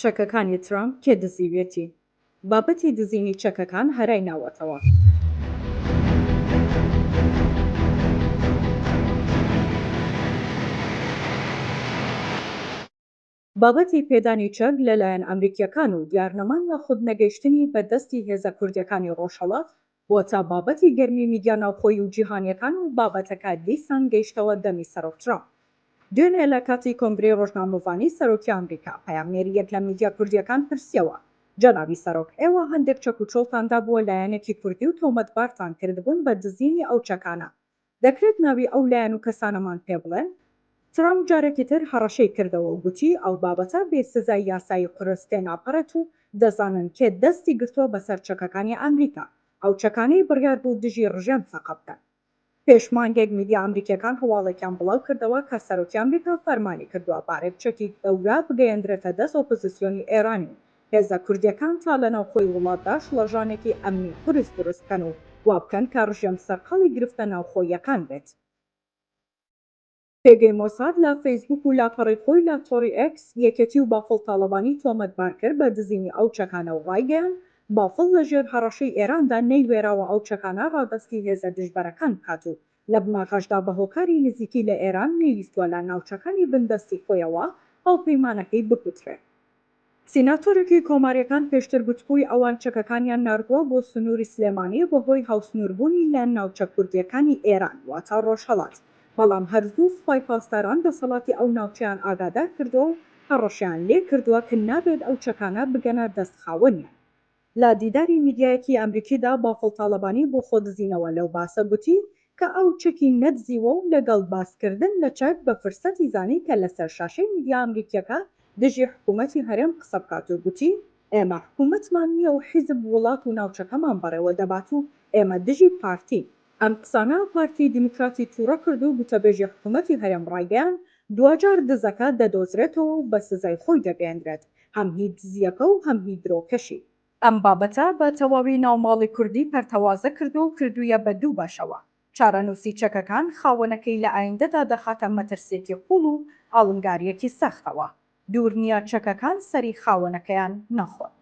چەکەکانی ترامپ کێ دزیویەتی؟ بابەتی دزینی چەکەکان هەرای ناوەتەوە. بابەتی پێدانی چەک لەلایەن ئەمریکییەکان و دیارنەمان یاخود نەگەیشتنی بە دەستی هێزە کوردییەکانی ڕۆژهەڵات واتا بابەتی گەرمی میدیا ناوخۆیی و جیهانیەکان و بابەتەکە دیسان گەیشتەوە دەمی سەرۆک ترامپ. دوێنێ لە کاتی کۆنگرەی رۆژنامەڤانی سەرۆکی ئەمریکا، پەیامنێریەک لە میدیا کوردیەکان پرسیەوە، جەنابی سەرۆک، ئێوە هەندێک چەک و چۆڵتان دابووە لایەنێکی کوردی و تۆمەتبارتان کردبوون بە دزینی ئەو چەکانە، دەکرێت ناوی ئەو لایەن و کەسانەمان پێ بڵێن؟ ترەمپ جارێکی تر هەڕەشەی کردەوە و گوتی ئەو بابەتە بێ سزای یاسایی قورس تێناپەڕێت و دەزانن کێ دەستی گرتووە بەسەر چەکەکانی ئەمریکا، ئەو چەکانەی بڕیار بوو دژی ڕژێم فەقە بکەن. پێش مانگێک میدیا ئەمریکییەکان هەواڵێکیان بڵاو کردەوە کە سەرۆکی ئەمریکا فەرمانی کردووە بارێک چەکی گەورە بگەیەندرێتە دەست ئۆپۆزیسیۆنی ئێرانی و هێزە کوردیەکان تا لە ناوخۆی وڵاتدا شڵەژانێکی ئەمنی قورس دروست بکەن و وابکەن کە ڕژێم سەرقاڵی گرفتە ناوخۆییەکان بێت. پێگەی مۆساد لە فەیسبووک و لاپەڕەی خۆی لە تۆڕی ئێکس، یەکێتی و بافڵ تاڵەبانی تۆمەتبار کرد بە دزینی ئەو چەکانە و ڕایگەیاند، بافڵ لە ژێر هەڕەشەی ئێراندا نەیوێراوە ئەو چەکانە ڕادەستی هێزە دژبەرەکان بکات و لە بناغەشدا بە هۆکاری نزیکی لە ئێران نەیویستووە لە ناوچەکانی بندەستی خۆیەوە هاوپەیمانەکەی بکوترێ. سیناتۆرێکی کۆماریەکان پێشتر گوتبووی ئەوان چەکەکانیان ناردووە بۆ سنووری سلێمانی بە هۆی هاوسنووربوونی لە ناوچە کوردیەکانی ئێران واتە ڕۆژهەڵات بەڵام هەر زوو سوپای پاسداران دەسەڵاتی ئەو ناوچەیان ئاگادار کردووە و هەڕەشەیان لێ کردووە ک نابێت ئەو چەکانە بگەنە دەست خاوەنیان. لە دیداری میدیایەکی ئەمریکیدا بافڵ تاڵەبانی بۆ خۆدزینەوە لەو باسە گوتی کە ئەو چەکی نەدزیوە و لەگەڵ باسکردن لە چەک بە فرسەتی زانی کە لەسەر شاشەی میدیا ئەمریکییەکە دژی حکوومەتی هەرێم قسە بکات و گوتی ئێمە حکوومەتمان نییە و حیزب وڵات و ناوچەکەمان بەڕێوە دەبات و ئێمە دژی پارتین. ئەم قسانە پارتی دیموکراتی تووڕە کرد و گوتەبێژی حکوومەتی هەرێم ڕایگەیاند، دواجار دزەکە دەدۆزرێتەوە و بە سزای خۆی دەگەیەندرێت، هەم هی دزییەکە و هەم هی درۆکەشی. ئەم بابەتە بە تەواوی ناوماڵی کوردی پەرتەوازە کرد و کردوویە بە دوو بەشەوە. چارەنووسی چەکەکان خاوەنەکەی لە ئایندەدا دەخاتە مەترسییەکی قووڵ و ئاڵنگارییەکی سەختەوە. دوور نیە چەکەکان سەری خاوەنەکەیان نەخۆن.